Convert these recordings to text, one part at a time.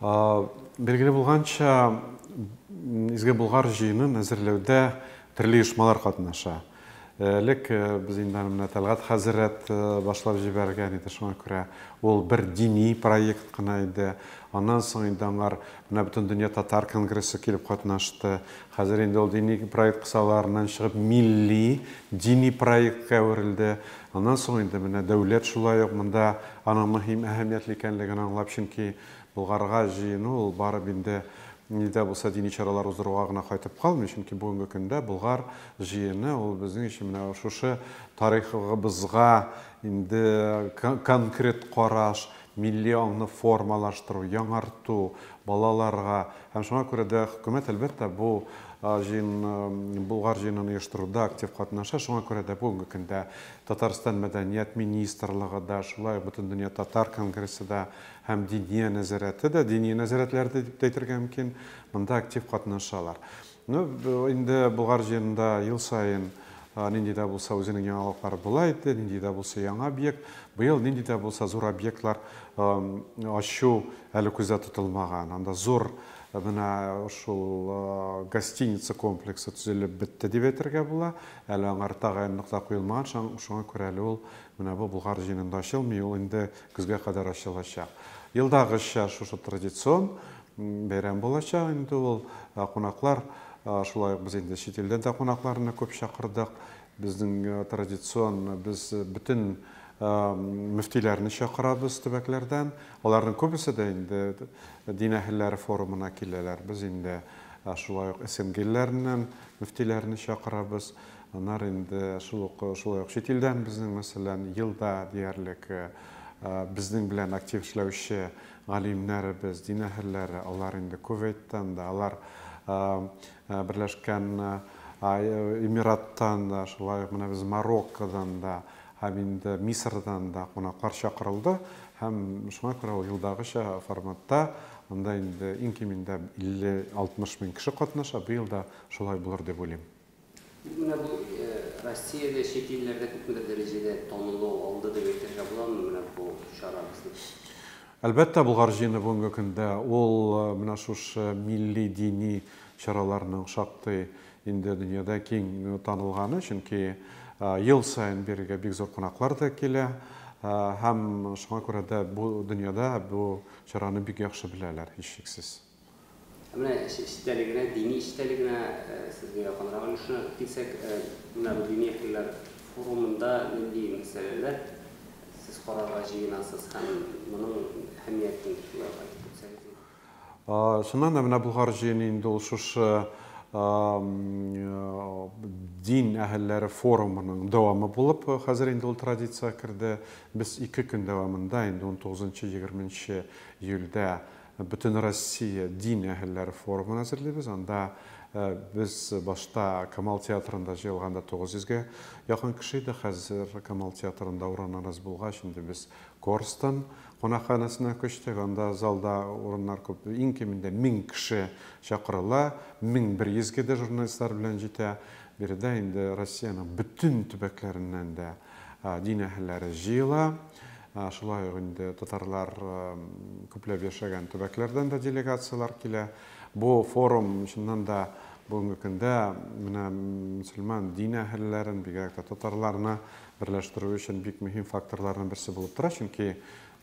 Билгеле булганча, Изге Болгар җыенын әзерләүдә төрле оешмалар катнаша. Элек без инде аны менә Тәлгать хәзрәт башлап җибәргән иде, шуңа күрә ул бер дини проект кына иде. Аннан соң инде аңар менә Бөтендөнья татар конгрессы килеп катнашты. Хәзер инде ул дини проект кысаларыннан чыгып, милли, дини проектка әверелде. Аннан соң инде менә дәүләт шулай ук монда аның мөһим, әһәмиятле икәнлеген аңлап, чөнки Болгарга җыену ул барып инде ни дә булса дини чаралар уздыруга гына кайтып калмый, чөнки бүгенге көндә Болгар җыены ул безнең өчен менә шушы тарихыбызга инде конкрет караш, милли аңны формалаштыру, яңарту, балаларга һәм шуңа күрә дә хөкүмәт, әлбәттә, бу җыен, Болгар җыенын оештыруда актив катнаша, шуңа күрә дә бүгенге көндә Татарстан Мәдәният министрлыгы да, шулай ук Бөтендөнья татар конгрессы да һәм Диния нәзарәте дә, дини нәзарәтләр дә дип тә әйтергә мөмкин, монда актив катнашалар. Ну, инде Болгар җыенында ел саен нинди дә булса үзенең яңалыклары була иде, нинди дә булса яңа объект. Быел нинди дә булса зур объектлар ачу әле күздә тотылмаган. Анда зур менә шул гостиница комплексы төзелеп бетте дип әйтергә була. Әле аңар тагын нокта куелмаган, шуңа күрә әле ул менә бу Болгар җыенында ачылмый, ул инде көзгә кадәр ачылачак. Елдагыча шушы традицион Бәйрәм булачак инде ул. Кунаклар, шулай ук без инде чит илдән дә кунакларны күп чакырдык. Безнең традицион, без бөтен мөфтиләрне чакырабыз төбәкләрдән. Аларның күбесе дә инде дин әһелләре форумына киләләр. Без инде шулай ук СНГ илләреннән мөфтиләрне чакырабыз. Аннары инде шул ук, шулай ук чит илдән безнең, мәсәлән, елда диярлек безнең белән актив эшләүче галимнәребез, дин әһелләре, алар инде Кувейттан да, алар Берләшкән Эмираттан да, шулай ук менә без Мароккодан да һәм инде Мисырдан да кунаклар чакырылды һәм шуңа күрә ул елдагыча форматта анда инде иң кимендә 50-60 мең кеше катнаша, быел да шулай булыр дип уйлыйм. Бик менә бу Россиядә, чит илләрдә күпмедер дәрәҗәдә танылу алды дип әйтергә буламы менә бу чара безнең? Әлбәттә, Болгар җыены бүгенге көндә ул менә шушы милли, дини чараларның шактый инде дөньяда киң танылганы, чөнки ел саен бирегә бик зур кунаклар да килә һәм шуңа күрә дә бу дөньяда бу чараны бик яхшы беләләр, һичшиксез. Ә менә эш эчтәлегенә, дини эчтәлегенә сезгә якынрак өлешенә килсәк, менә бу дини әһелләр форумында нинди мәсьәләләр сез карарга җыенасыз һәм моның әһәмиятен шулай ук әйтеп үтсәгез иде. Чыннан да, менә Болгар җыены инде ул шушы дин әһелләре форумының дәвамы булып, хәзер инде ул традициягә керде. Без ике көн дәвамында, инде унтугызынчы-егерменче июльдә Бөтенроссия дин әһелләре форумын әзерлибез. Анда без башта Камал театрында җыелганда 900 гә якын кеше иде, хәзер Камал театрында урыннар аз булгач, инде без Корстон кунакханәсенә күчтек. Анда залда урыннар күп, иң кимендә 1000 кеше чакырыла, 1100 гә дә журналистлар белән җитә. Биредә инде Россиянең бөтен төбәкләреннән дә Дин әһелләре җыела. Шулай ук инде татарлар күпләп яшәгән төбәкләрдән дә делегацияләр килә. Бу форум, чыннан да, бүгенге көндә менә мөселман дин әһелләрен, бигрәк тә татарларны берләштерү өчен бик мөһим факторларның берсе булып тора. Чөнки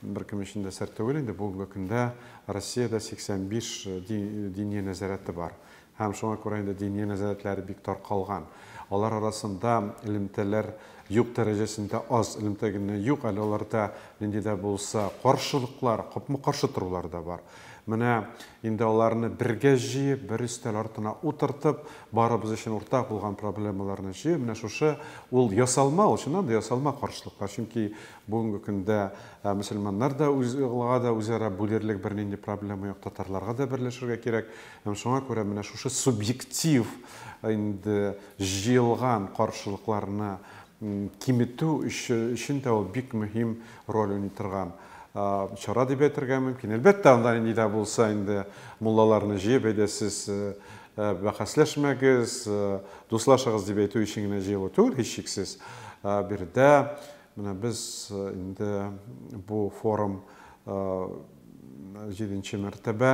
беркем өчен дә сер түгел инде, бүгенге көндә Россиядә 85 дини нәзарәте бар. Һәм шуңа күрә инде дини нәзарәтләр бик таркалган. Алар арасында элемтәләр юк дәрәҗәсендә аз, элемтә генә юк, әле аларда нинди дә булса каршылыклар, капма-каршы торулар да бар. Менә инде аларны бергә җыеп, бер өстәл артына утыртып, барыбыз өчен уртак булган проблемаларны җыеп, менә шушы ул ясалма, ул чыннан да ясалма каршылыклар, чөнки бүгенге көндә мөселманнар да үз, га да үзара бүлерлек бернинди проблема юк, татарларга да берләшергә кирәк. Һәм шуңа күрә менә шушы субъектив инде җыелган каршылыкларны киметү өчен дә ул бик мөһим роль уйный торган чара дип әйтергә мөмкин. Әлбәттә, анда ни дә булса инде муллаларны җыеп, әйдә сез бәхәсләшмәгез, дуслашыгыз дип әйтү өчен генә җыелу түгел, һичшиксез. Биредә менә без инде бу форум җиденче мәртәбә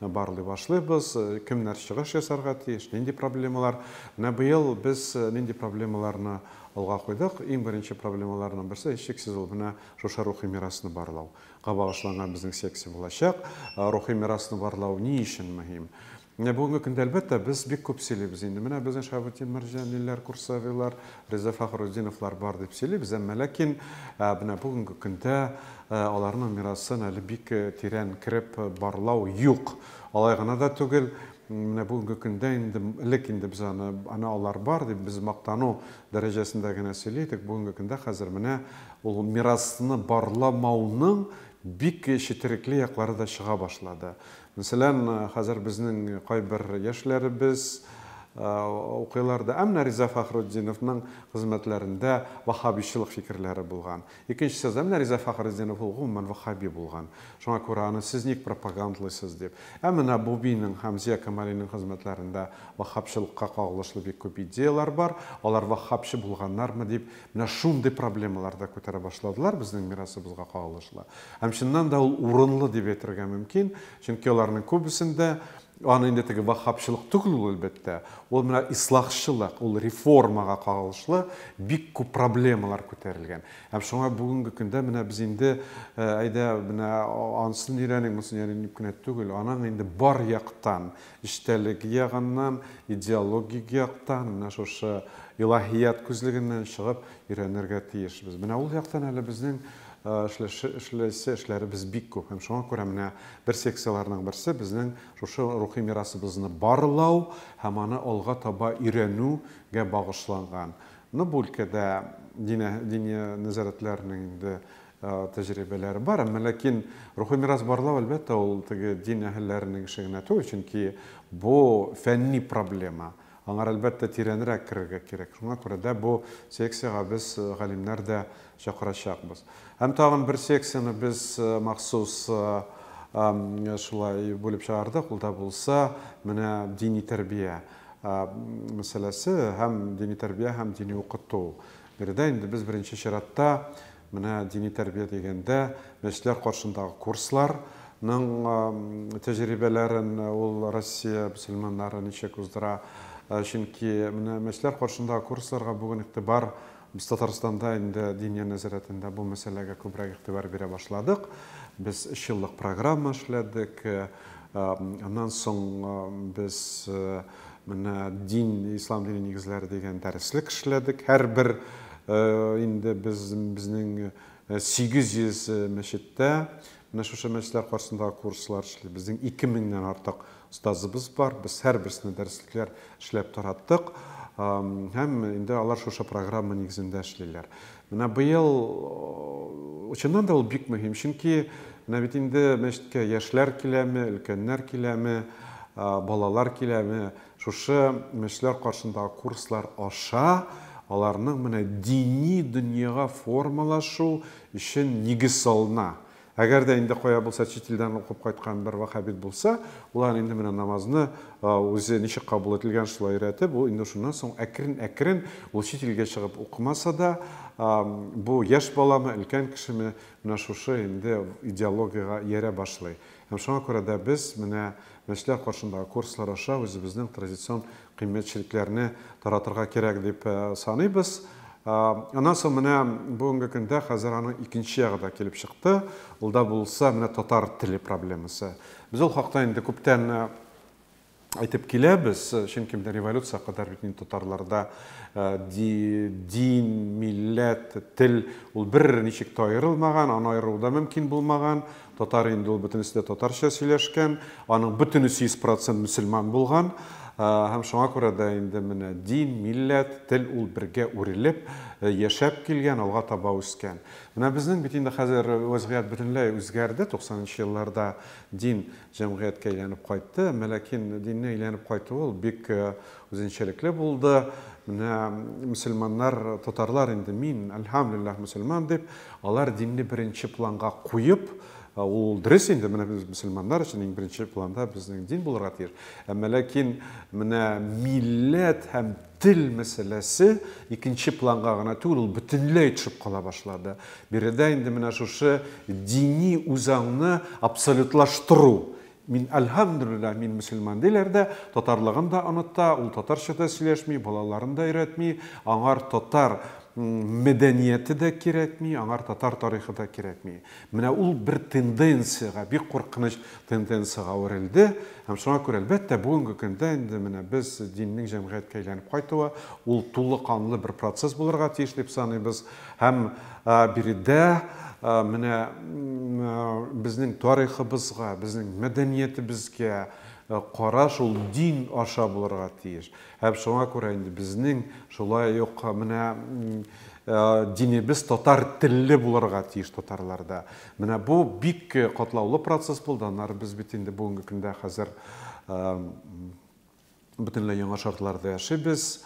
Менә барлый башлыйбыз, кемнәр чыгыш ясарга тиеш, нинди проблемалар. Менә быел без нинди проблемаларны алга куйдык? Иң беренче проблемаларның берсе, һичшиксез, ул менә шушы рухи мирасны барлау га багышланган безнең секция булачак. Рухи мирасны барлау ни өчен мөһим? Менә бүгенге көндә, әлбәттә, без бик күп сөйлибез инде. Менә безнең Шаһабетдин Мәрҗаниләр, Курсавилар, Риза Фәхрутдиновлар бар дип сөйлибез, әмма ләкин менә бүгенге көндә аларның мирасын әле бик тирән кереп барлау юк. Алай гына да түгел, менә бүгенге көндә инде, элек инде без аны, әнә алар бар дип, без мактану дәрәҗәсендә генә сөйли идек, бүгенге көндә хәзер менә ул мирасны барламауның бик четерекле яклары да чыга башлады. Мәсәлән, хәзер безнең кайбер яшьләребез укыйлар да. Ә менә Риза Фәхретдиновның хезмәтләрендә ваһһабичылык фикерләре булган. Икенчесе, ә менә Риза Фәхретдинов ул гомумән ваһһаби булган. Шуңа күрә аны сез ник пропагандлыйсыз дип. Ә менә Бубийның, Хәмзия Камалинең хезмәтләрендә ваһһабчылыкка кагылышлы бик күп идеяләр бар. Алар ваһһабчы булганнармы дип Менә шундый проблемалар да күтәрә башладылар безнең мирасыбызга кагылышлы. Һәм чыннан да ул урынлы дип әйтергә мөмкин, чөнки аларның күбесендә, аны инде теге ваһһабчылык түгел ул, әлбәттә, ул менә ислахчылык, ул реформага кагылышлы бик күп проблемалар күтәрелгән. Һәм шуңа бүгенге көндә менә без инде, әйдә, менә ансын өйрәник, монысын өйрәник дип кенә түгел, аның инде бар яктан Эчтәлеге ягыннан, идеологик яктан, менә шушы илаһият күзлегеннән чыгып өйрәнергә тиешбез. Менә ул яктан әле безнең эшләше, эшләсе эшләребез бик күп. Һәм шуңа күрә менә бер секцияләрнең берсе безнең шушы рухи мирасыбызны барлау һәм аны алга таба өйрәнү гә багышланган. Ну, бу өлкәдә динә, дини нәзарәтләрнең инде тәҗрибәләре бар. Әмма ләкин рухи мирас барлау, әлбәттә, ул теге дин әһелләренең эше генә түгел, чөнки бу фәнни проблема. Аңар, әлбәттә, тирәнрәк керергә кирәк. Шуңа күрә дә бу секциягә без галимнәр дә чакырачакбыз. Һәм тагын бер секцияне без махсус шулай бүлеп чыгардык, ул да булса, менә дини тәрбия мәсьәләсе һәм дини тәрбия һәм дини укыту. Биредә инде без беренче чиратта менә дини тәрбия дигәндә мәчетләр каршындагы курслар ның тәҗрибәләрен ул Россия мөселманнары ничек уздыра, чөнки менә мәчетләр каршындагы курсларга бүген игътибар без Татарстанда инде Диния нәзарәтендә бу мәсьәләгә күбрәк игътибар бирә башладык. Без өч еллык программа эшләдек. Аннан соң без Менә дин, ислам дине нигезләре дигән дәреслек эшләдек. Һәрбер инде без безнең 800 мәчеттә менә шушы мәчетләр каршысындагы курслар эшли. Безнең 2000-нән артык остазыбыз бар. Без һәрберсенә дәреслекләр эшләп тараттык. Һәм инде алар шушы программа нигезендә эшлиләр. Менә быел, чыннан да, ул бик мөһим, чөнки менә бит инде мәчеткә яшьләр киләме, өлкәннәр киләме, балалар киләме, шушы мәчетләр каршындагы курслар аша аларның менә дини дөньяга формалашу өчен нигез салына. Әгәр дә инде кая булса чит илдән укып кайткан бер ваһһабит булса, ул аны инде менә намазны үзе ничек кабул ителгән, шулай өйрәтеп, ул инде шуннан соң әкрен-әкрен, ул чит илгә чыгып укымаса да, бу яшь баламы, өлкән кешеме, менә шушы инде идеологиягә иярә башлый. Һәм шуңа күрә дә без менә мәчетләр каршындагы курслар аша үзебезнең традицион кыйммәтчелекләрне таратырга кирәк дип саныйбыз. Аннан соң менә бүгенге көндә хәзер аның икенче ягы да килеп чыкты. Ул да булса менә татар теле проблемасы. Без ул хакта инде күптән әйтеп киләбез, чөнки менә революция кадәр бит инде татарларда дин, милләт, тел ул бер ничек тә аерылмаган, аны аеру да мөмкин булмаган. Татар инде ул бөтенесе дә татарча сөйләшкән, аның бөтенесе 100% мөселман булган һәм шуңа күрә дә инде менә дин, милләт, тел ул бергә үрелеп, яшәп килгән, алга таба үскән. Менә безнең бит инде хәзер вәзгыять бөтенләй үзгәрде, 90 нчы елларда дин җәмгыятькә әйләнеп кайтты, әмма ләкин диннең әйләнеп кайтуы ул бик Үзенчәлекле булды. Менә мөселманнар, татарлар инде, мин, әлхәмдүлилләһ, мөселман дип, алар динне беренче планга куеп, Ә ул дөрес инде менә без мөселманнар өчен иң беренче планда безнең дин булырга тиеш әмма ләкин менә милләт һәм тел мәсьәләсе икенче планга гына түгел ул бөтенләй төшеп кала башлады биредә инде менә шушы дини үзаңны абсолютлаштыру Мин, әлһәмдүлилләһ, мин мөселман, диләр дә, татарлыгын да оныта, ул татарча да сөйләшми, балаларын да өйрәтми, аңар татар мәдәнияте дә кирәкми, аңар татар тарихы да кирәкми. Менә ул бер тенденциягә, бик куркыныч тенденциягә әверелде. Һәм шуңа күрә, әлбәттә, бүгенге көндә инде менә без диннең җәмгыятькә әйләнеп кайтуы, ул тулы канлы бер процесс булырга тиеш дип саныйбыз. Һәм биредә менә безнең тарихыбызга, безнең мәдәниятебезгә караш ул дин аша булырга тиеш. Һәм шуңа күрә инде безнең шулай ук менә динебез татар телле булырга тиеш татарларда. Менә бу бик катлаулы процесс булды. Аннары без бит инде бүгенге көндә хәзер Бөтенләй яңа шартларда яшибез.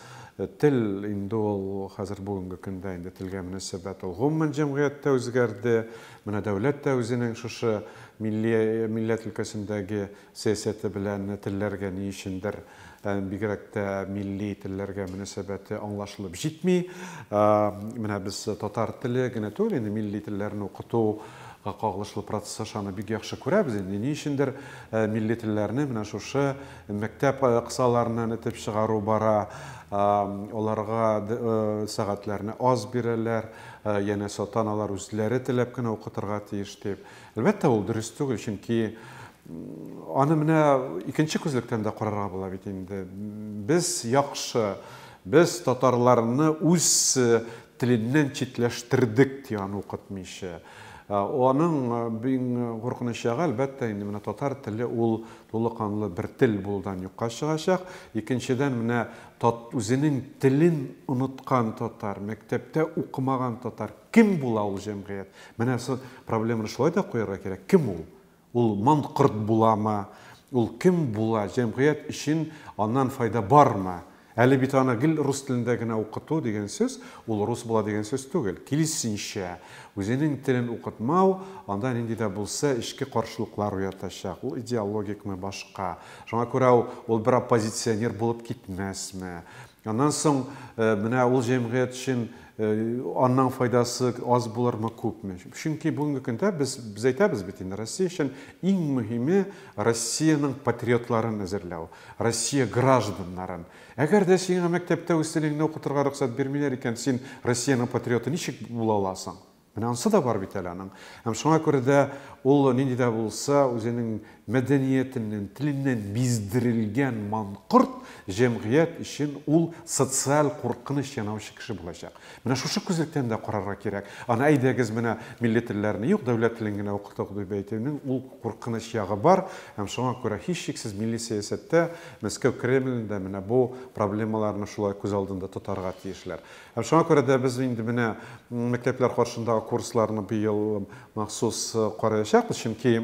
Тел инде ул хәзер бүгенге көндә инде телгә мөнәсәбәт ул гомумән җәмгыятьтә үзгәрде. Менә дәүләт тә үзенең шушы милли милләт өлкәсендәге сәясәте белән телләргә ни өчендер бигрәк тә милли телләргә мөнәсәбәте аңлашылып җитми. Менә без татар теле генә түгел, инде милли телләрне укыту кагылышлы процесс аша аны бик яхшы күрәбез инде. Ни өчендер милли телләрне менә шушы Мәктәп кысаларыннан этеп чыгару бара, аларга сәгатьләрне аз бирәләр, янәсе ата-аналар үзләре теләп кенә укытырга тиеш дип. Әлбәттә, ул дөрес түгел, чөнки аны менә икенче күзлектән дә карарга була бит инде. Без яхшы, без татарларны үз теленнән читләштердек, ди аны укытмыйча. Аның бин куркыныч ягы, әлбәттә, инде менә татар теле ул тулы канлы бер тел булудан юкка чыгачак, икенчедән, менә тат үзенең телен оныткан татар, мәктәптә укымаган татар, кем була ул җәмгыять? Менә со проблеманы шулай да куярга кирәк, кем ул? Ул манкорт буламы, ул кем була, җәмгыять өчен аннан файда бармы? Әле бит аны гел рус телендә генә укыту дигән сүз, ул рус була дигән сүз түгел. Киресенчә, үзенең телен укытмау анда нинди дә булса эчке каршылыклар уятачак. Ул идеологикмы, башка. Шуңа күрә ул бер оппозиционер булып китмәсме. Аннан соң, менә ул җәмгыять өчен анның файдасы аз булырмы, күпме? Чөнки бүгенге көндә без, без әйтәбез бит инде, Россия өчен иң мөһиме, Россиянең патриотларын әзерләү. Россия гражданнарын. Әгәр дә сиңа мәктәптә үз телеңне укытырга рөхсәт бирмиләр икән, син Россиянең патриоты ничек була аласың? Менә ансы да бар бит әле аның. Һәм шуңа күрә дә ул нинди дә булса үзенең мәдәниятеннән, теленнән биздерелгән манкорт җәмгыять өчен ул социаль куркыныч янавчы кеше булачак. Менә шушы күзлектән дә карарга кирәк. Аны әйдәгез менә милли телләрне юк, дәүләт телен генә укытыйк дип әйтүнең ул куркыныч ягы бар. Һәм шуңа күрә һичшиксез милли сәясәттә Мәскәү Кремлен дә менә бу проблемаларны шулай күз алдында тотарга тиешләр. Һәм шуңа күрә дә без инде менә мәктәпләр каршындагы курсларны быел махсус караячакбыз, чөнки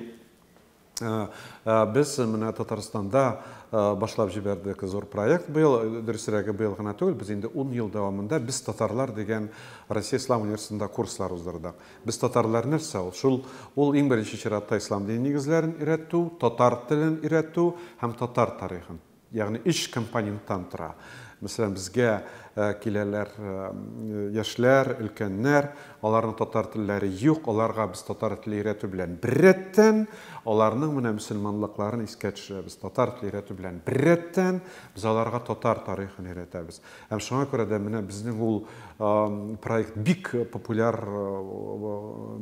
Без менә Татарстанда башлап җибәрдек зур проект быел, дөресрәге быел гына түгел, без инде ун ел дәвамында Без татарлар дигән Россия Ислам университетында курслар уздырдык. Без татарлар нәрсә ул? Шул ул иң беренче чиратта ислам дине нигезләрен өйрәтү, татар телен өйрәтү һәм татар тарихын. Ягъни өч компоненттан тора. Мәсәлән, безгә киләләр яшьләр, өлкәннәр, аларның татар телләре юк, аларга без татар теле өйрәтү белән беррәттән, аларның менә мөселманлыкларын искә төшерәбез, татар теле өйрәтү белән беррәттән, без аларга татар тарихын өйрәтәбез. Һәм шуңа күрә дә менә безнең ул проект бик популяр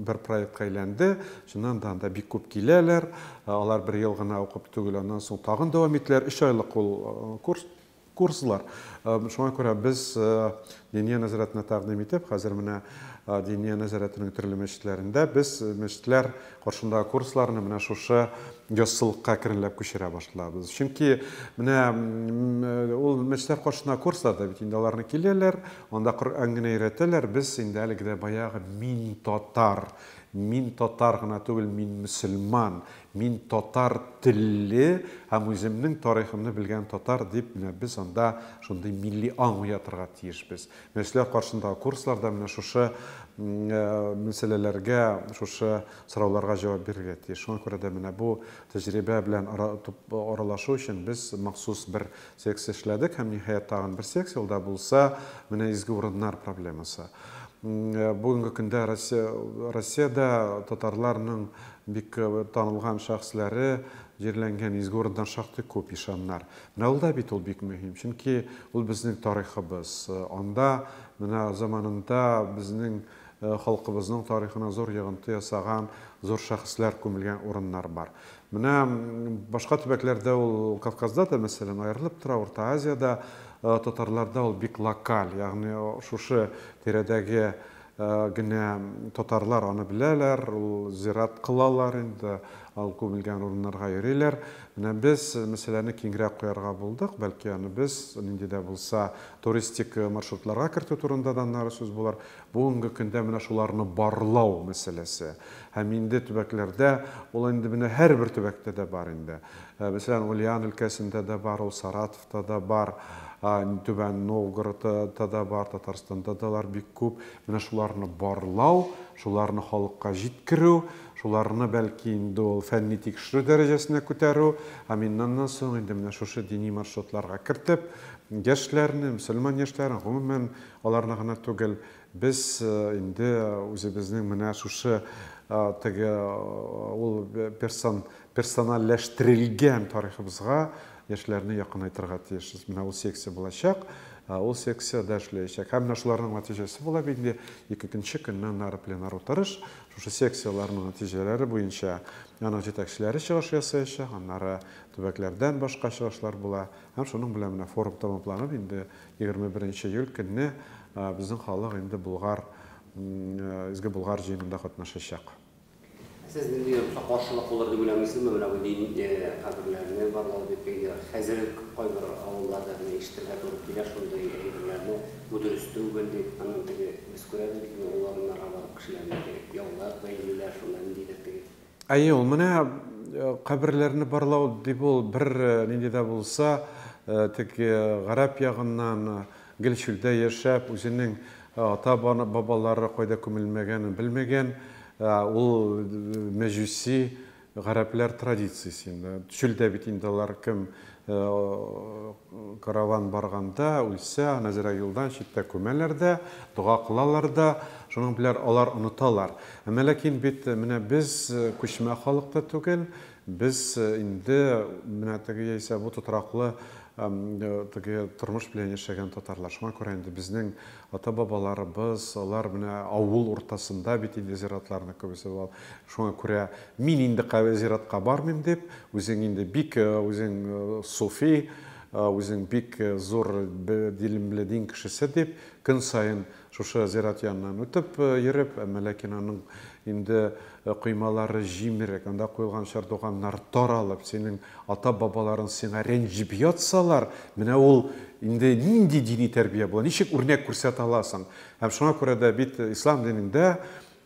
бер проектка әйләнде, Чыннан да анда бик күп киләләр. Алар бер ел гына укып түгел, аннан соң тагын дәвам итәләр. Өч айлык ул курс, курслар. Шуңа күрә без Диния нәзарәтенә тәкъдим итеп, хәзер менә Диния нәзарәтенең төрле мәчетләрендә без мәчетләр каршындагы курсларны менә шушы яссылыкка керенләп күчерә башлабыз. Чөнки менә ул мәчетләр каршындагы курслар да бит инде аларны киләләр, анда Коръән генә өйрәтәләр. Без инде әлеге дә баягы мин татар, Мин татар гына түгел, мин мөселман, мин татар телле һәм үземнең тарихымны белгән татар, дип, менә без анда шундый милли аң уятырга тиешбез. Менә сезләр каршындагы курсларда менә шушы мәсьәләләргә, шушы сорауларга җавап бирергә тиеш. Шуңа күрә дә менә бу тәҗрибә белән аралашу өчен без махсус бер Секция эшләдек һәм, ниһаять, тагын бер секция, ул да булса, менә изге урыннар проблемасы. Бүгенге көндә Россия, Россиядә татарларның бик танылган шәхесләре җирләнгән изге урыннар шактый күп, ишаннар. Менә ул да бит ул бик мөһим, чөнки ул безнең тарихыбыз. Анда менә заманында безнең халкыбызның тарихына зур йогынты ясаган зур шәхесләр күмелгән урыннар бар. Менә башка төбәкләрдә ул, Кавказда да, мәсәлән, аерылып тора, Урта Азиядә, татарларда ул бик локаль, ягъни шушы тирәдәге генә татарлар аны беләләр, ул зират кылалар инде, ал күмелгән урыннарга йөриләр. Менә без мәсьәләне киңрәк куярга булдык, бәлки аны без нинди дә булса туристик маршрутларга кертү турында да аннары сүз булыр. Бүгенге көндә менә шуларны барлау мәсьәләсе. Һәм инде төбәкләрдә ул инде менә һәрбер төбәктә дә бар инде. Мәсәлән, Ульян өлкәсендә дә бар ул, Саратовта да бар, Түбән Новгородта да бар, Татарстанда да алар бик күп. Менә шуларны барлау, шуларны халыкка җиткерү, шуларны, бәлки, инде ул фәнни-тикшерү дәрәҗәсенә күтәрү, һәм иннаннан соң инде менә шушы дини маршрутларга кертеп, яшьләрне, мөселман яшьләрен, гомумән, Аларны гына түгел, без инде үзебезнең менә шушы теге ул персон, персоналләштерелгән тарихыбызга яшьләрне якынайтырга тиешбез. Менә ул секция булачак, ул секция дә эшләячәк. Һәм менә шуларның нәтиҗәсе була бит инде икекенче көннән ары пленар утырыш. Шушы секцияләрнең нәтиҗәләре буенча аның җитәкчеләре чыгыш ясаячак, аннары төбәкләрдән башка чыгышлар була. Һәм шуның белән менә форум тәмамланып, инде Егерме беренче июль көнне безнең халык инде Болгар, Изге Болгар җыенында катнашачак. Сез нинди якка каршылык булыр дип уйламыйсызмы, менә бу дин каберләрне барлау дип, әйдә, хәзер кайбер авылларда гына ишетергә туры килә шундый әйберләрне, бу дөрес түгел дип, аннан теге, без күрәбез бит инде ул урыннарга барып кешеләрне яулар, бәйлиләр, шунда ниндидер теге. Әйе, ул менә каберләрне барлау дип ул бер нинди дә булса, теге гарәп ягыннан гел чүлдә яшәп, үзенең ата бабалары кайда күмелмәгәнен белмәгән, ул мәҗүси гарәпләр традициясе инде. Чүлдә бит инде алар кем Караван барганда, үлсә, Нәзирә юлдан читтә күмәләр дә, дога кылалар да, шуның беләр алар оныталар. Әмма ләкин бит менә без күчмә халык та түгел, без инде менә теге яисә бу тотраклы теге тормыш белән яшәгән татарлар. Шуңа күрә инде безнең Ата-бабаларыбыз, алар менә авыл уртасында бит инде зиратларның күбесе. Шуңа күрә мин инде кая зиратка бармыйм дип, үзең инде бик үзең суфи, үзең бик зур дилемле дин кешесе дип, көн саен шушы зират яныннан үтеп йөреп, әмма ләкин аның инде коймалары җимерек, анда куелган чардуганнар таралып, синең Ата-бабаларың сиңа рәнҗеп ятсалар, менә ул инде нинди дини тәрбия була, ничек үрнәк күрсәтә аласың? Һәм шуңа күрә дә бит ислам динендә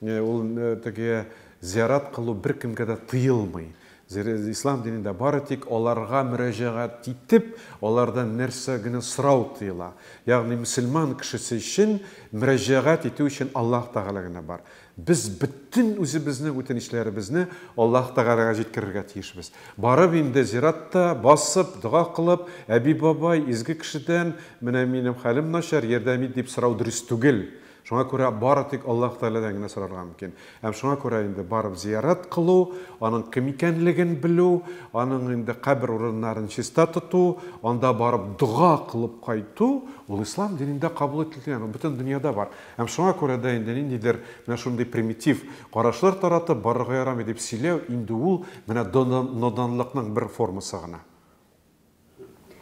ул теге зиярат кылу беркемгә дә тыелмый. Ислам динендә бары тик аларга мөрәҗәгать итеп, алардан нәрсә генә сорау тыела. Ягъни мөселман кешесе өчен мөрәҗәгать итү өчен Аллаһ Тәгалә генә бар. Без бөтен үзебезнең үтенечләребезне Аллаһ Тәгаләгә җиткерергә тиешбез. Барып инде зиратта басып, дога кылып, әби-бабай, изге кешедән, менә минем хәлем начар, ярдәм ит, дип сорау дөрес түгел. Шуңа күрә бары тик Аллаһ Тәгаләдән генә сорарга мөмкин. Һәм шуңа күрә инде барып зиярат кылу, аның кем икәнлеген белү, аның инде кабер урыннарын чиста тоту, анда барып дога кылып кайту, ул ислам динендә кабул ителгән, ул бөтен дөньяда бар. Һәм шуңа күрә дә инде ниндидер менә шундый примитив карашлар таратып, барырга ярамый дип сөйләү, инде ул менә ноданлыкның бер формасы гына.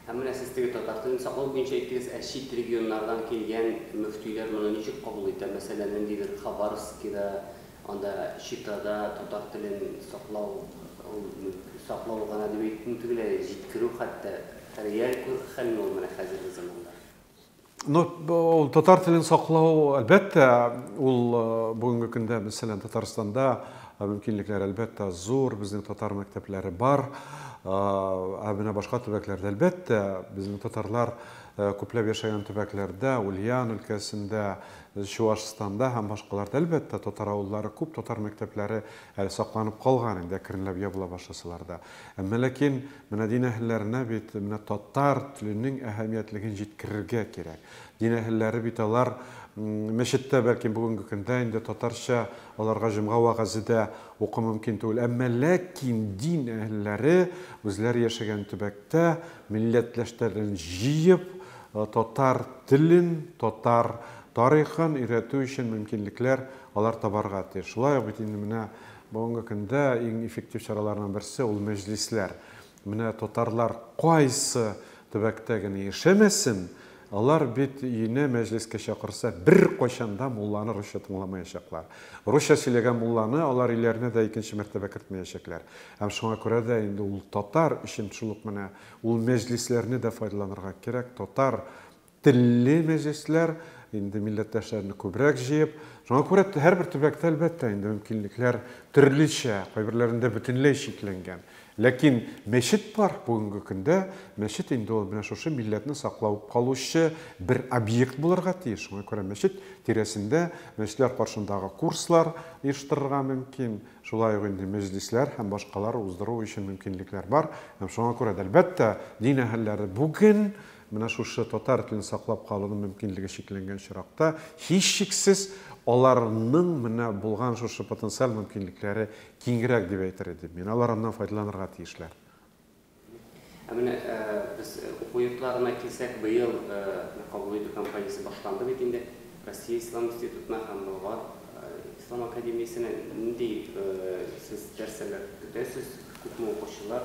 Һәм менә сез теге татар телен саклау буенча әйттегез, ә чит регионнардан килгән мөфтиләр моны ничек кабул итә? Мәсәлән, ниндидер Хабаровскида, анда Читада татар телен саклау, ул саклау гына дип әйтү төгәл, ә җиткерү хәтта реаль хәлме ул менә хәзерге заманда? Ну, ул татар телен саклау, әлбәттә, ул э, бүгенге көндә, мәсәлән, Татарстанда э, мөмкинлекләр, әлбәттә, зур, безнең татар мәктәпләре бар, э, ә менә башка төбәкләрдә, әлбәттә, безнең татарлар күпләп яшәгән төбәкләрдә, Ульян өлкәсендә, Чуашстанда һәм башкаларда, әлбәттә, татар авыллары күп, татар мәктәпләре әле сакланып калган инде, әкренләп ябыла башласалар да. Әмма ләкин Менә дин әһелләренә бит менә татар теленең әһәмиятлеген җиткерергә кирәк. Дин әһелләре бит алар мәчеттә бәлки бүгенге көндә инде татарча аларга җомга вәгазе дә уку мөмкин түгел. Әмма ләкин дин әһелләре үзләре яшәгән төбәктә милләтләштәрен җыеп, татар телен, татар тарихын өйрәтү өчен мөмкинлекләр алар табарга тиеш. Шулай ук бит инде менә Бүгенге көндә иң эффектив чараларның берсе ул мәҗлисләр. Менә татарлар кайсы төбәктә генә яшәмәсен, алар бит өенә мәҗлескә чакырса, беркайчан да мулланы русча тыңламаячаклар. Русча сөйләгән мулланы алар өйләренә дә икенче мәртәбә кертмәячәкләр. Һәм шуңа күрә дә инде ул татар өчен шул ук менә ул мәҗлисләрне дә файдаланырга кирәк, татар Телле мәҗлесләр, инде милләттәшләрне күбрәк җыеп. Шуңа күрә һәрбер төбәктә, әлбәттә, инде мөмкинлекләр төрлечә, кайберләрендә бөтенләй чикләнгән. Ләкин мәчет бар, бүгенге көндә мәчет инде ул менә шушы милләтне саклап калучы бер объект булырга тиеш. Шуңа күрә мәчет тирәсендә, мәчетләр каршындагы курслар оештырырга мөмкин, шулай ук инде мәҗлесләр һәм башкалар уздыру өчен мөмкинлекләр бар. Һәм шуңа күрә дә, әлбәттә, дин әһелләре бүген Менә шушы татар телен саклап калуның мөмкинлеге чикләнгән очракта, һичшиксез, аларның менә булган шушы потенциаль мөмкинлекләре киңрәк дип әйтер идем мин. Алар аннан файдаланырга тиешләр. Ә менә без уку йортларына килсәк, быел кабул итү кампаниясе башланды бит инде. Россия Ислам институтына һәм Болгар Ислам академиясенә нинди сез нәрсәләр көтәсез? Күпме укучылар?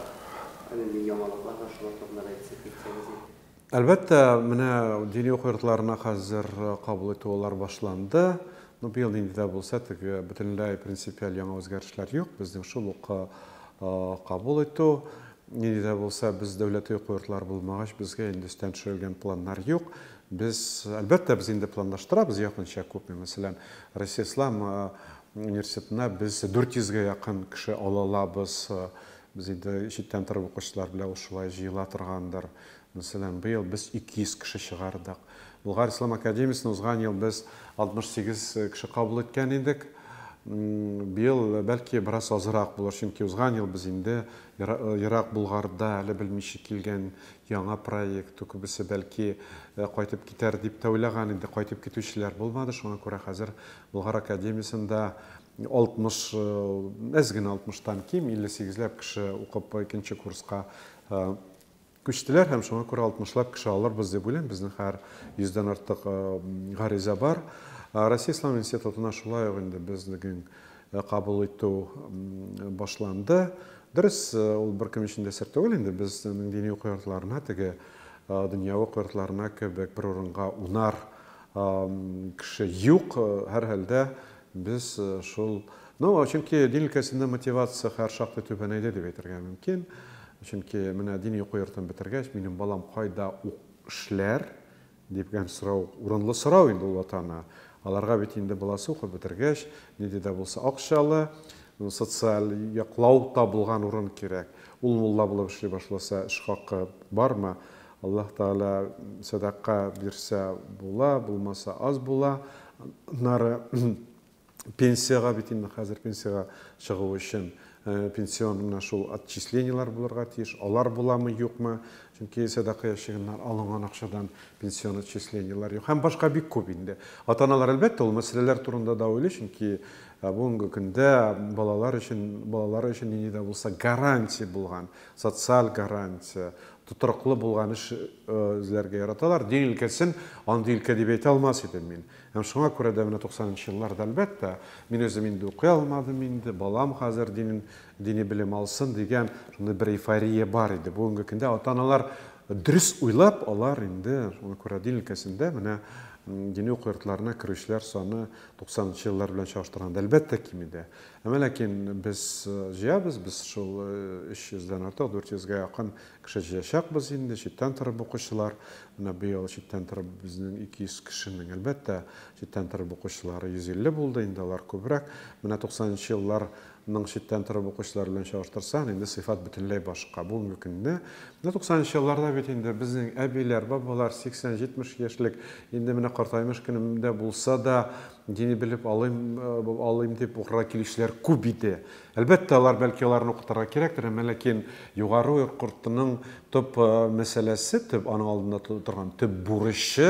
Нинди яңалыклар бар, шулар турында да әйтсәк, әйтсәгез иде. Әлбәттә, менә дини уку йортларына хәзер кабул итү алар башланды. Ну, быел нинди дә булса, теге бөтенләй принципиаль яңа үзгәрешләр юк. Безнең шул ук кабул итү. Нинди дә булса, без дәүләти уку йортлары булмагач, безгә инде өстән төшерелгән планнар юк. Без, әлбәттә, без инде планлаштырабыз якынча күпме. Мәсәлән, Россия Ислам университетына без 400 гә якын кеше ала алабыз. Без инде читтән торып укучылар белән ул шулай җыела торгандыр. Мәсәлән, быел без 200 кеше чыгардык. Болгар ислам академиясенә узган ел без 68 кеше кабул иткән идек. Быел, бәлки, бераз азрак булыр, чөнки узган ел без инде ерак Болгарда әле белмичә килгән Яңа проект, күбесе, бәлки, кайтып китәр дип тә уйлаган иде, кайтып китүчеләр булмады, шуңа күрә хәзер Болгар академиясендә 60, әз генә 60 тан ким, 58 ләп кеше укып икенче курска күчтеләр һәм шуңа күрә 60 лап кеше алырбыз дип уйлыйм, безнең хәер 100 дән артык гариза бар. Россия ислам институтына шулай ук инде безнең кабул итү башланды. Дөрес, ул беркем өчен дә сер түгел инде, безнең дини уку йортларына теге дөньяви уку йортларына кебек бер урынга унар кеше юк, һәрхәлдә без шул Ну, чөнки дин өлкәсендә мотивация хәр шактый түбәнәйде дип әйтергә мөмкин. Чөнки менә дини уку йортын бетергәч, минем балам кайда ук эшләр, Дигән сорау урынлы сорау инде ул ата-ана. Аларга бит инде баласы укып бетергәч, нинди дә булса акчалы, социаль яклау табылган урын кирәк. Ул мулла булып эшли башласа, эш хакы бармы? Аллаһ Тәгалә сәдака бирсә була, булмаса аз була. Аннары пенсиягә бит инде хәзер пенсиягә чыгу өчен пенсион менә шул отчислениеләр булырга тиеш. Алар буламы, юкмы? Чөнки сәдака ящигыннан алынган акчадан пенсион отчислениеләр юк. Һәм башка бик күп инде. Ата-аналар, әлбәттә, ул мәсьәләләр турында да уйлый, чөнки бүгенге көндә балалар өчен, балалары өчен нинди дә булса гарантия булган, социаль гарантия, тотрыклы булган эш эзләргә яраталар. Дин өлкәсен андый өлкә дип әйтә алмас идем мин. Һәм шуңа күрә дә менә туксанынчы елларда, әлбәттә, мин үзем инде укый алмадым инде, балам хәзер динен, дини белем алсын дигән шундый бер эйфория бар иде. Бүгенге көндә ата-аналар дөрес уйлап, алар инде, шуңа күрә дин өлкәсендә менә дини уку йортларына керүчеләр саны туксанынчы еллар белән чагыштырганда, әлбәттә, кими дә. Әмма ләкин без җыябыз, без шул өч йөздән артык, дүрт йөзгә якын Кеше җыячакбыз инде, читтән торып укучылар. Менә быел читтән торып безнең 200 кешенең, әлбәттә, читтән торып укучылары 150 булды, инде алар күбрәк. Менә 90 нчы елларның читтән торып укучылары белән чагыштырсаң, инде сыйфат бөтенләй башка. Бүгенге көнне, менә 90 нчы елларда бит инде безнең әбиләр, бабалар 80-70 яшьлек, инде менә картаймыш көнем дә булса да, дини белеп алыйм, алыйм дип укырга килүчеләр күп иде. Әлбәттә, алар, бәлки, аларны укытырга кирәктер, әмма ләкин югары ук кортының төп мәсьәләсе, төп аның алдында торган төп бурычы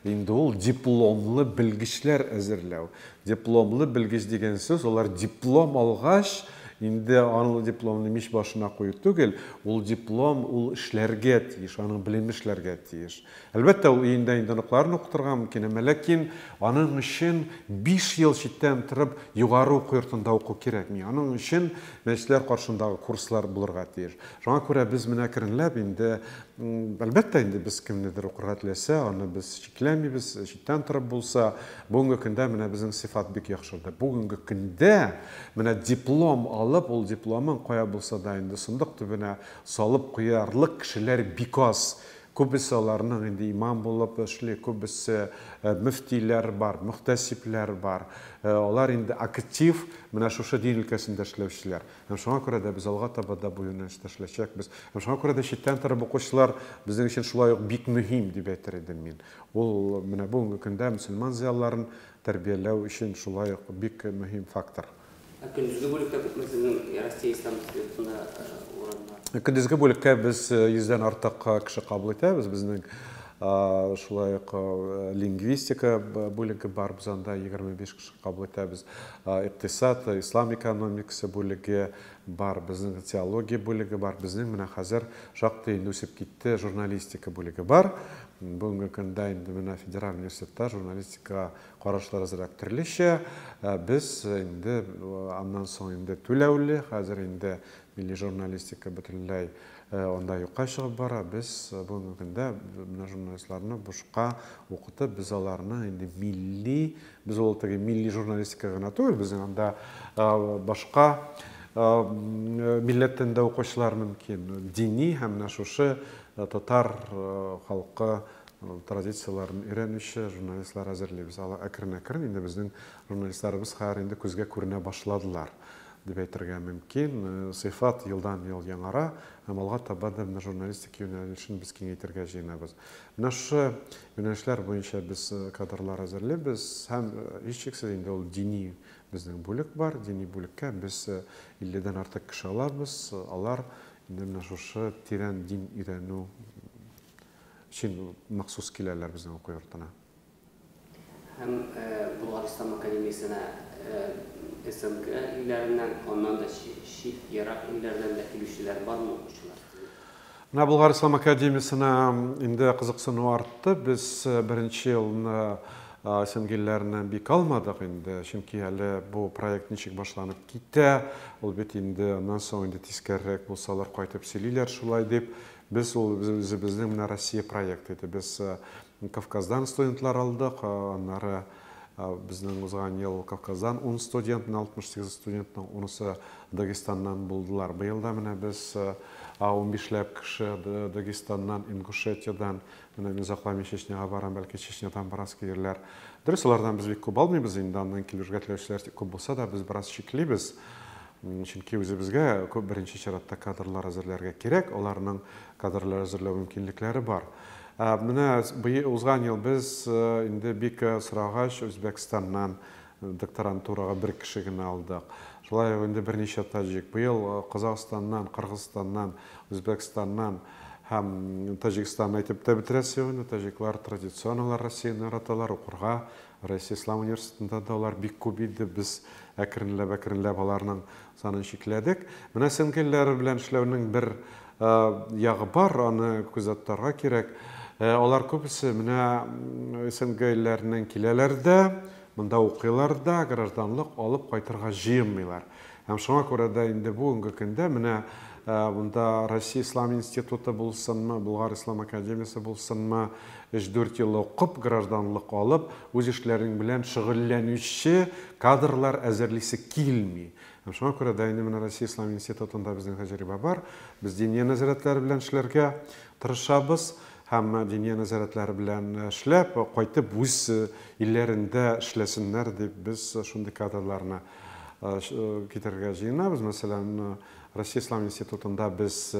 инде ул дипломлы белгечләр әзерләү. Дипломлы белгеч дигән сүз, алар диплом алгач, инде анлы дипломны мич башына кую түгел, ул диплом, ул эшләргә тиеш, аның белеме эшләргә тиеш. Әлбәттә, ул өендә инде оныкларын укытырга мөмкин, әмма ләкин аның өчен биш ел читтән торып югары уку йортында уку кирәкми. Аның өчен мәчетләр каршындагы курслар булырга тиеш. Шуңа күрә без менә әкренләп инде, әлбәттә инде, без кемнедер укырга теләсә, аны без чикләмибез, читтән торып булса. Бүгенге көндә менә безнең сыйфат бик яхшырды. Бүгенге көндә менә диплом алып, ул дипломын кая булса да инде сондык төбенә салып куярлык кешеләр бик аз. Күбесе аларның инде имам булып эшли, күбесе мөфтиләр бар, мөхтәсибләр бар. Алар инде актив менә шушы дин өлкәсендә эшләүчеләр. Һәм шуңа күрә дә без алга таба да бу юнәлештә эшләячәкбез. Һәм шуңа күрә дә читтән торып укучылар безнең өчен шулай ук бик мөһим, дип әйтер идем мин. Ул менә бүгенге көндә мөселман зыялыларын тәрбияләү өчен шулай ук бик мөһим фактор. Ә көндезге бүлектә күпме сезнең Россия Ислам институтында урын бар? Көндезге бүлеккә без 100 дән артык кеше кабул итәбез. Безнең шулай ук лингвистика бүлеге бар, без анда 25 кеше кабул итәбез. Икътисад, ислам экономикасы бүлеге бар, безнең теология бүлеге бар, безнең менә хәзер шактый инде үсеп китте, журналистика бүлеге бар. Бүгенге көндә инде менә федераль университетта журналистикага Карашлар азрак төрлечә. Без инде аннан соң инде түләүле, хәзер инде милли журналистика бөтенләй анда юкка чыгып бара. Без бүгенге көндә менә журналистларны бушка укытып, без аларны инде милли, без ул теге милли журналистика гына түгел, безнең анда башка милләттән дә укучылар мөмкин. Дини һәм менә шушы татар халкы Ул традицияләрен өйрәнүче журналистлар әзерлибез. Алар әкрен-әкрен инде безнең журналистларыбыз хәер инде күзгә күренә башладылар, дип әйтергә мөмкин. Сыйфат елдан-ел яңара һәм алга таба да менә журналистика юнәлешен без киңәйтергә җыенабыз. Менә шушы юнәлешләр буенча без кадрлар әзерлибез һәм, һичшиксез, инде ул дини безнең бүлек бар. Дини бүлеккә без 50 дән артык кеше алабыз. Алар инде менә шушы тирән дин өйрәнү Өчен махсус киләләр безнең уку йортына. Һәм Болгар ислам академиясенә СНГ илләреннән, аннан да чит, ерак илләрдән дә килүчеләр бармы укучылар? Менә Болгар ислам академиясенә инде кызыксыну артты. Без беренче елны СНГ илләреннән бик алмадык инде, чөнки әле бу проект ничек башланып китә, ул бит инде аннан соң инде тискәрерәк булсалар кайтып сөйлиләр шулай дип, Без ул үзебезнең менә Россия проекты иде. Без Кавказдан студентлар алдык, аннары безнең узган ел Кавказдан ун студентны, 68 студентның унысы Дагестаннан булдылар. Быел да менә без унбишләп кеше Дагестаннан, Ингушетиядән, менә мин озакламый Чечняга барам, бәлки Чечнядан бераз килерләр. Дөрес, алардан без бик күп алмыйбыз инде, аннан килергә теләүчеләр күп булса да, без бераз чиклибез. Чөнки үзебезгә күп беренче чиратта кадрлар әзерләргә кирәк, аларның кадрлар әзерләү мөмкинлекләре бар. Ә менә узган ел без инде бик сорагач Үзбәкстаннан докторантурага бер кеше генә алдык. Шулай ук инде берничә таҗик. Быел Казахстаннан, Кыргызстаннан, Үзбәкстаннан һәм Таҗикстаннан әйтеп тә бетерә сегодня. Таҗиклар традиционно алар Россияне яраталар, укырга Россия Ислам университетында да алар бик күп иде, без әкренләп-әкренләп аларның санын чикләдек. Менә сеңгелләр белән эшләүнең бер ягы бар, аны күзәтәргә кирәк. Алар күбесе менә СНГ илләреннән киләләр дә, монда укыйлар да, гражданлык алып кайтырга җыенмыйлар. Һәм шуңа күрә дә инде бүгенге көндә менә монда Россия Ислам институты булсынмы, Болгар Ислам академиясе булсынмы, 3-4 ел укып, гражданлык алып, үз эшләрең белән шөгыльләнүче кадрлар әзерлисе килми. Һәм шуңа күрә дә инде менә Россия Ислам институтында безнең тәҗрибә бар. Без диния нәзарәтләре белән эшләргә тырышабыз һәм диния нәзарәтләре белән эшләп, кайтып үз илләрендә эшләсеннәр дип без шундый кадрларны китерергә җыенабыз. Мәсәлән, Россия Ислам институтында без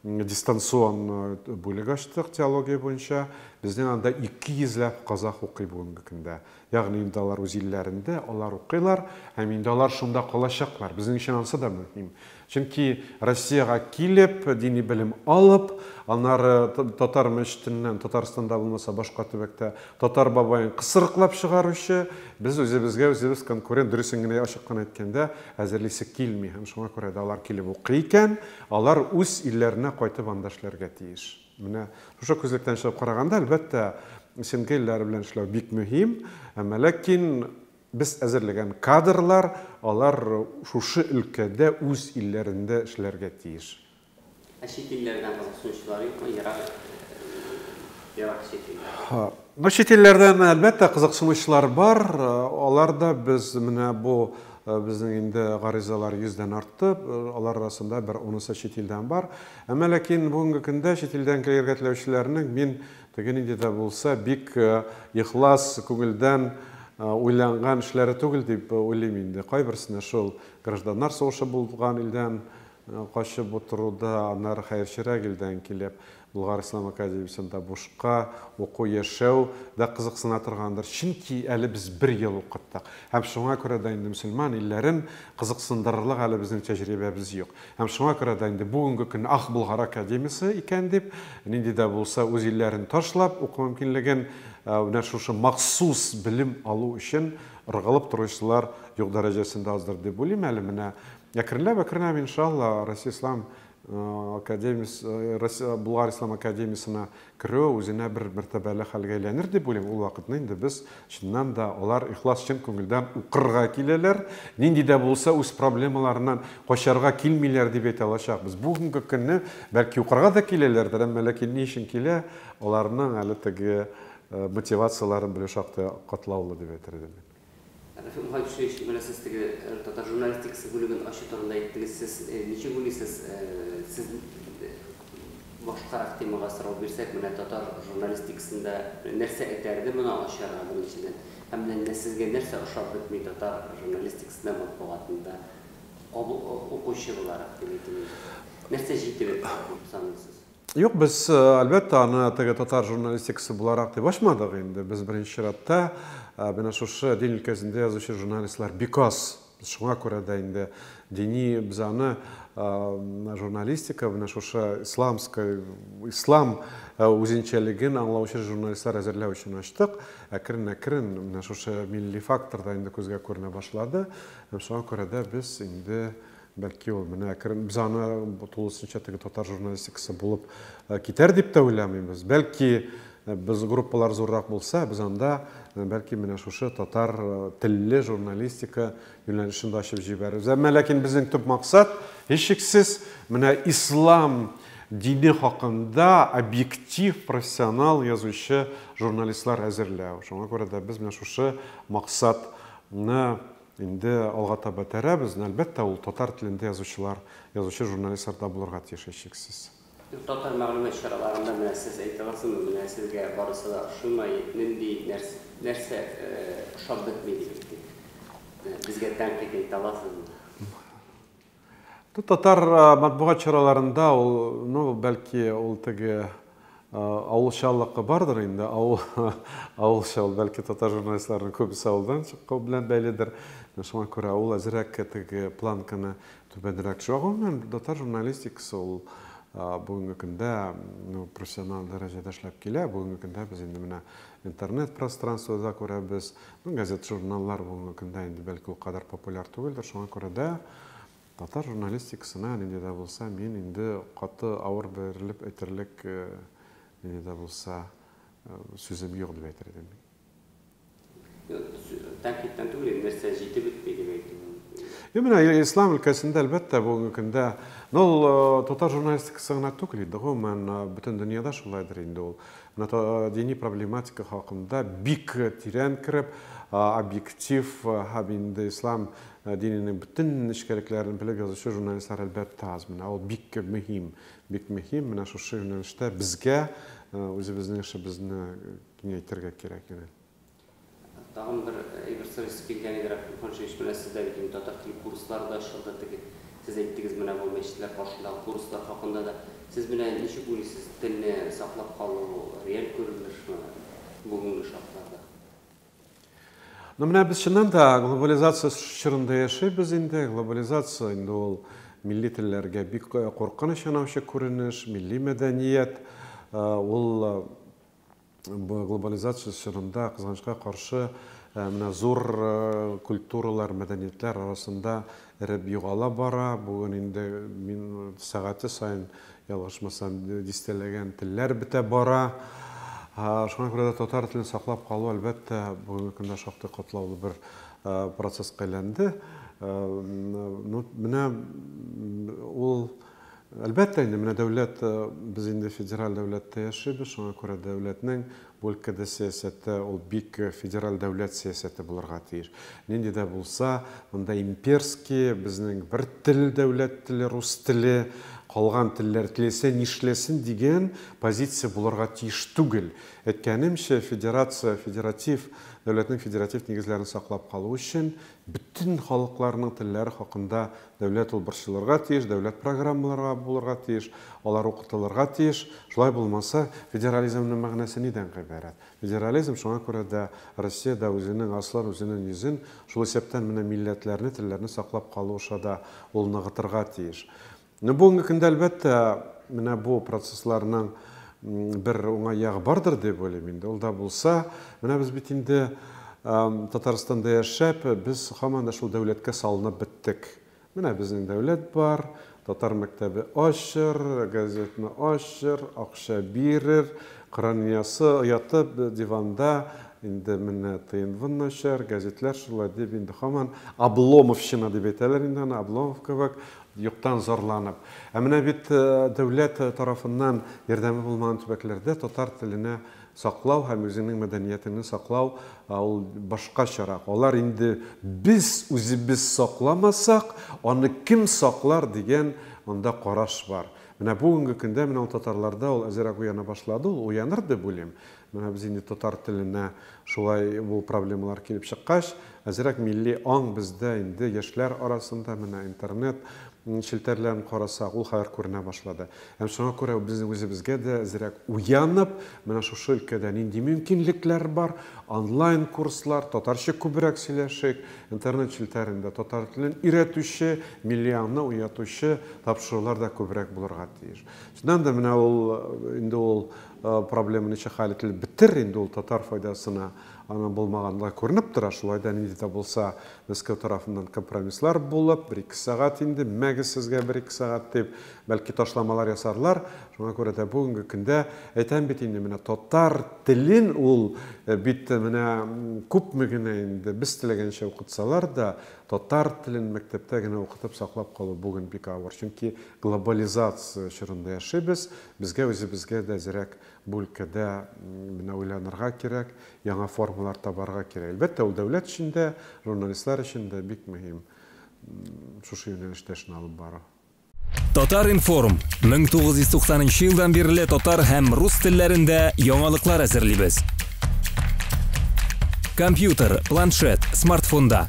дистанцион бүлек ачтык теология буенча. Безнең анда 200 ләп казах укый бүгенге көндә. Ягъни инде алар үз илләрендә, алар укыйлар, һәм инде алар шунда калачаклар. Безнең өчен ансы да мөһим. Чөнки Россиягә килеп, дини белем алып, аннары татар мәчетеннән, Татарстанда булмаса башка төбәктә, татар бабаен кысрыклап чыгаручы, без үзебезгә үзебез конкурент, дөресен генә ачык кына әйткәндә, әзерлисе килми. Һәм шуңа күрә дә алар килеп укый икән, алар үз илләренә кайтып анда эшләргә тиеш. Менә шушы күзлектән чыгып караганда, әлбәттә, семья илләре белән эшләү бик мөһим, әмма ләкин Без әзерләгән кадрлар, алар шушы өлкәдә, үз илләрендә эшләргә тиеш. Ә чит илләрдән кызыксынучылар юкмы? Ерак, ерак чит илләрдән. Ну, чит илләрдән, әлбәттә, кызыксынучылар бар. Алар да без менә бу безнең инде гаризалар йөздән артты. Алар арасында бер унысы чит илдән бар. Әмма ләкин бүгенге көндә чит илдән килергә теләүчеләрнең мин Теге нинди дә булса бик ихлас күңелдән уйланган эшләре түгел дип уйлыйм инде. Кайберсенә шул гражданнар сугышы булган илдән качып утыруда, аннары хәерчерәк илдән килеп Болгар ислам академиясендә бушка уку, яшәү дә кызыксына торгандыр. Чөнки әле без бер ел укыттык. Һәм шуңа күрә дә инде мөселман илләрен кызыксындырырлык әле безнең тәҗрибәбез юк. Һәм шуңа күрә дә инде бүгенге көнне Ах, Болгар академиясе икән дип, нинди дә булса үз илләрен ташлап, уку мөмкинлеген менә шушы махсус белем алу өчен ыргылып торучылар юк дәрәҗәсендә аздыр дип уйлыйм әле. Менә әкренләп, әкренләп, иншалла, Россия ислам академиясе, Россия, Болгар ислам академиясенә керүе үзенә бер мәртәбәле хәлгә әйләнер дип уйлыйм. Ул вакытны инде без, чыннан да, алар ихлас, чын күңелдән укырга киләләр, нинди дә булса үз проблемаларыннан качарга килмиләр дип әйтә алачакбыз. Бүгенге көнне, бәлки, укырга да киләләрдер, әмма ләкин ни өчен килә, аларның әле теге мотивацияләрен белү шактый катлаулы дип әйтер идем мин. Рәфыйк Мөхәммәтшинович, менә сез теге татар журналистикасы бүлеген ачу турында әйттегез. Сез ничек уйлыйсыз, сез башкарак темага сорау бирсәк, менә татар журналистикасында нәрсә этәрде моны ачарга, беренчедән? Һәм менә сезгә нәрсә ошап бетми татар журналистикасында, матбугатында, укучы буларак дип әйтим инде. Нәрсә җитеп бетмәде дип саныйсыз? Юк, без, әлбәттә, аны теге татар журналистикасы буларак дип ачмадык инде. Без беренче чиратта менә шушы дин өлкәсендә язучы журналистлар биказ. Шуңа күрә дә инде дини без аны журналистика менә шушы исламская, ислам үзенчәлеген аңлаучы журналистлар әзерләү өчен ачтык. Әкрен-әкрен менә шушы милли фактор да инде күзгә күренә башлады. Һәм шуңа күрә дә без инде Бәлки ул менә әкрен без аны тулысынча теге татар журналистикасы булып э, китәр дип тә уйламыйбыз. Бәлки э, без группалар зуррак булса, без анда э, бәлки менә шушы татар телле журналистика юнәлешен дә ачып җибәрербез. Әмма ләкин безнең төп максат һичшиксез менә ислам дине хакында объектив, профессионал язучы журналистлар әзерләү. Шуңа күрә дә без менә шушы максатны Инде алга таба этәрәбез, но, әлбәттә, ул татар телендә язучылар, язучы-журналистлар да булырга тиеш, һичшиксез. Татар мәгълүмат чараларында менә сез әйтыгызмы, менә сезгә барысы да ошыймы, нинди, нәрсә ошап бетми дигез, дип, безгә тәнкыйть әйтә аласызмы? Татар матбугат чараларында ул, ну, бәлки, ул теге авылчаллыкка бардыр инде, авыл, авылча ул, бәлки, татар журналистларының күбесе авылдан чыккау белән бәйледер. Шуңа күрә ул әзрәк теге планканы түбәнрәк төшә. Гомумән, татар журналистикасы ул бүгенге көндә ну, профессиональ дәрәҗәдә эшләп килә. Бүгенге көндә без инде менә интернет пространствода күрәбез, Ну, газет, журналлар бүгенге көндә инде бәлки ул кадәр популяр түгелдер, шуңа күрә дә татар журналистикасына нинди дә булса мин инде каты авыр бирелеп әйтерлек нинди дә булса сүзем юк дип әйтер идем. Тәнкыйтьтән түгел инде, нәрсә җитеп бетми дип әйтү мөмкин. Юк, менә ислам өлкәсендә, әлбәттә, бүгенге көндә, ну, ул татар журналистикасы гына түгел инде, гомумән, бөтен дөньяда шулайдыр инде ул. Дини проблематика хакында бик тирән кереп, объектив һәм инде ислам диненең бөтен нечкәлекләрен белеп язучы журналистлар әлбәттә аз. Менә ул бик мөһим, бик мөһим. Менә шушы юнәлештә безгә үзебезнең эшебезне киңәйтергә кирәк иде. Тагын бер әйбер сорыйсы килгән иде, Рәхим Ханшевич, менә сез дә бит инде татар теле курслары да ачылды, теге сез әйттегез менә бу мәчетләр каршындагы курслар хакында да. Сез менә ничек уйлыйсыз, телне саклап калу реаль күренешме бүгенге шартларда? Ну менә без чыннан да глобализация чорында яшибез инде, глобализация инде ул милли телләргә бик куркыныч янавчы күренеш, милли мәдәният ул Бу глобализация чорында, кызганычка каршы, менә зур культуралар, мәдәниятләр арасында эреп югала бара. Бүген инде мин сәгате саен, ялгышмасам, дистәләгән телләр бетә бара. Шуңа күрә дә татар телен саклап калу, әлбәттә, бүгенге көндә шактый катлаулы бер процесска әйләнде. Ну, менә ул Әлбәттә инде, менә дәүләт, без инде федераль дәүләттә яшибез, шуңа күрә дәүләтнең бу өлкәдә сәясәте ул бик федераль дәүләт сәясәте булырга тиеш. Нинди дә булса, монда имперский, безнең бер тел, дәүләт теле, рус теле, калган телләр теләсә нишләсен дигән позиция булырга тиеш түгел. Әйткәнемчә, федерация, федератив, дәүләтнең федератив нигезләрен саклап калу өчен Бөтен халыкларның телләре хакында дәүләт ул борчылырга тиеш, дәүләт программаларга булырга тиеш, алар укытылырга тиеш. Шулай булмаса, федерализмның мәгънәсе нидән гыйбарәт? Федерализм шуңа күрә дә Россиядә үзенең аслын, үзенең йөзен, шул исәптән менә милләтләрне, телләрне саклап калу аша да ул ныгытырга тиеш. Ну бүгенге көндә әлбәттә менә бу процессларның бер уңай ягы бардыр дип уйлыйм инде. Ул да булса, менә без бит инде Татарстанда яшәп, без һаман да шул дәүләткә салынып беттек. Менә безнең дәүләт бар, татар мәктәбе ачыр, газетны ачыр, акча бирер, кыраниясы оятып диванда инде менә тыйнвын начар, газетләр шулай дип инде һаман Обломовщина дип әйтәләр инде аны, Обломов кебек Юктан зарланып. Ә менә бит дәүләт тарафыннан ярдәме булмаган төбәкләрдә татар теленә саклау һәм үзеңнең мәдәниятеңне саклау ул башкачарак. Алар инде без үзебез сакламасак, аны кем саклар дигән анда караш бар. Менә бүгенге көндә менә ул татарларда ул әзерәк уяна башлады, ул уяныр дип уйлыйм. Менә без инде татар теленә шулай бу проблемалар килеп чыккач, әзрәк милли аң бездә инде яшьләр арасында, менә интернет челтәрләрен карасак, ул хәбәр күренә башлады. Һәм шуңа күрә без үзебезгә дә әзрәк уянып, менә шушы өлкәдә нинди мөмкинлекләр бар, онлайн курслар, татарча күбрәк сөйләшик, интернет челтәрендә татар телен өйрәтүче, милли аңны уятучы тапшырулар да күбрәк булырга тиеш. Чыннан да менә ул инде ул Проблема ничек хәл ителеп бетер инде ул татар файдасына, аның булмаганлыгы күренеп тора. Шулай да нинди дә булса Мәскәү тарафыннан компромисслар булып, бер-ике сәгать инде, мәгез сезгә бер-ике сәгать дип, бәлки ташламалар ясарлар. Шуңа күрә дә бүгенге көндә, әйтәм бит инде, менә татар телен ул бит менә күпме генә инде без теләгәнчә укытсалар да, татар телен мәктәптә генә укытып саклап калу бүген бик авыр. Чөнки глобализация чорында яшибез, Безгә үзебезгә дә әзрәк бу өлкәдә менә уйланырга кирәк, яңа формалар табарга кирәк. Әлбәттә, ул дәүләт өчен дә, журналистлар өчен дә бик мөһим шушы юнәлештә эшне алып бару. Татар-информ, 1990 нчы елдан бирле татар һәм рус телләрендә яңалыклар әзерлибез. Компьютер, планшет, смартфонда.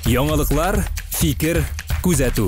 Яңалыклар, фикер, күзәтү.